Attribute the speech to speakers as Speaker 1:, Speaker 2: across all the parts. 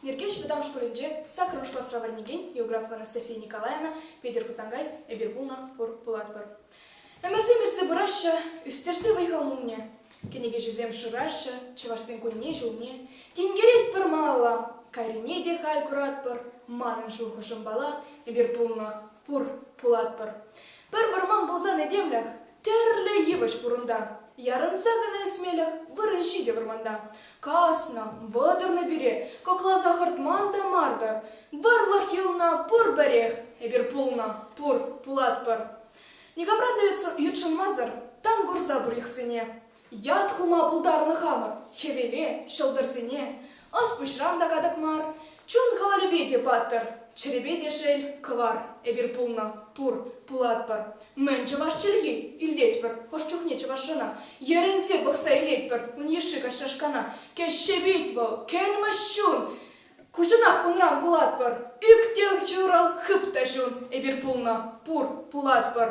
Speaker 1: Нӗркеҫ вӑтам шкулӗнче саккӑрмӗш класра вӗренекен географ Анастасия Николаевна Петӗр Хусанкай эпир пулнӑ пур пулатпӑр. Ӗмӗрсем иртсе пыраҫҫӗ, ӳстерсе вӑй-хал мулне. Кӗнекеҫӗсем шыраҫҫӗ, чӑвашсен кунне-ҫулне. Тинкеретпӗр малалла, кайрине те халь куратпӑр. Манӑн шухӑшӑм пала, эпир пулнӑ, Пур, пулатпӑр. Пӗр вӑрман пулсан этемлӗх, тӗрлӗ йывӑҫ пурӑнта. Ярӑнса кӑна ӳсмелӗх, вырӑн ҫитӗ вӑрманта. Каснӑ, вӑтӑрнӑ пире, кӑкласа хӑртман та мар-тӑр. Вӑрлӑх юлнӑ пур-пӗрех, эпир пулнӑ, пур, пулатпӑр. Никамран та ютшӑнмасӑр тан курса пур йӑхсене. Ят хума пултарнӑ хамӑр хӗвеле, ҫӑлтӑрсене. Ӑс-пуҫран та катӑк мар, чун хӑвалӗпе те паттӑр, чӗрепе те шел, кӑвар. Эпир пулнӑ, пур, пулатпӑр. Мӗн чӑваш чӗлхи? Илтетпӗр хӑш чухне чӑвашрана. Йӗрӗнсе пӑхса илетпӗр ун йышши каҫрашкана. Кӗҫҫепит вӑл, кӗлмӗҫ чун! Куҫӑнах унран кулатпӑр. Ӳктӗл ҫурӑл, хып та чун. Эпир пулнӑ, пур, пулатпӑр.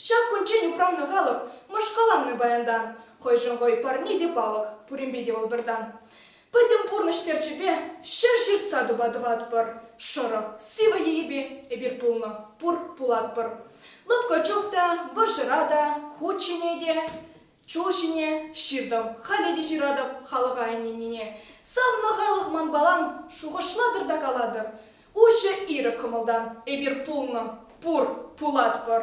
Speaker 1: Ҫак кунччен упраннӑ халӑх мӑшкаланнӑ паянтан, хӑйшӗн-хӑй пӗрне те палӑк, пуринпе те вӑл пӗртан. Пӗтӗм пурнӑҫ терчӗпе ҫӗр ҫыртса тупа тӑватпӑр, шӑрӑх, сивӗ йийӗпе эпир пулнӑ, пур, пулатпӑр. Лӑпкӑ чух та, вӑрҫӑра та, хут ҫине те Чул ҫине ҫыртӑм, халӗ те ҫыратӑп халӑха ӗненнине. Савнӑ халӑх манпалан, шухӑшлатӑр та калатӑр. Уҫӑ, ирӗк кӑмӑлтан эпир пулнӑ, пур, пулатпӑр.